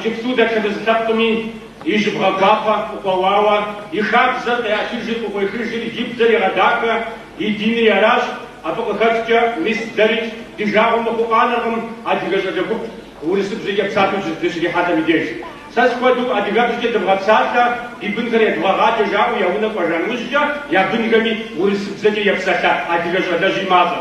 Иджыпсту дэтхэнэ зы лъэпкъми и жьыбгъэ гуапэ къыкъуэуауэ, и хабзэр къеӏэтыжри къыкъуехыжри и бзэр егъэдахэ, и динри аращ, абы къыхэкӏкӏэ мис дэрикӏ ди жагъуэ мыхъуу къанэркъым адыгэ щӏалэ гуп урысыбзэкӏэ псалъэу дыщрихьэлӏэм и деж. Сэ схуэдэу адыгэбзэкӏэ дывгъэпсалъэ, ди бынхэр едвгъэгъаджэ жаӏэу я унэ кӏуэжан ужькӏэ я бынхэми урысыбзэкӏэ епсалъэ адыгэ щӏалэжьи мащӏэ.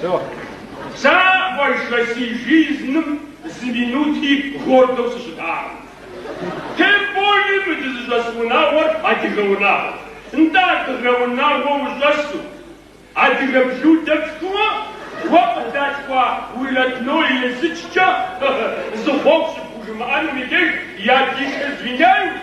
Сэ бзэкӏэ си жизным зы минути гордэу сыщытакъым. Тем более мы дызыщӏэс унагъуэр адыгэ унагъуэщ. Нтӏэ адыгэ унагъуэ ущӏэсу, адыгэ блюдэ пшхыуэ, уэ къыдалъхуа уи родной езыкӏкӏэ зы хъуэхъу щыпхужымыӏэнум и деж я дишэ звиняюсь.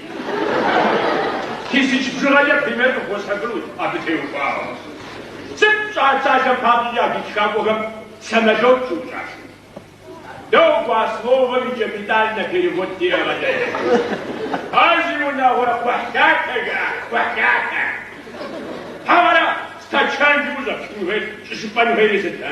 Тысяч бжыгъэ е пример къыпхуэсхьыкӏынущ абы теухуауэ. Сыт пщӏа цалэм папщӏи я гид тхакӏуэхэм самолет щыукӏаши? Догуэ, а словэм и капитальнэ перевод девгъэщӏ. Ар зи унагъуэрэ кхъухьлъатэ жаӏащ, кхъухьлъатэ. Хьэуэрэ, стачанджи ущӏэпщкӏун хуейт, щӏыщыпӏэн хуейри сыт, а?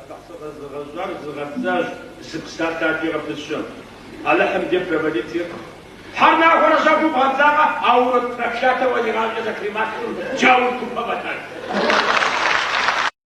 Алыхь зыгъэзыгъэжьар зыгъэпцӏащ зы псалъэ ади гъэпыщэм. Алыхьым де провалитир. Тхьэр нахуэрэ щэхуу бгъэбзагъэ, ауэ урок проклятэуэ игъащӏэ зэхрималъхьэу джаур купэ фӏэтащ.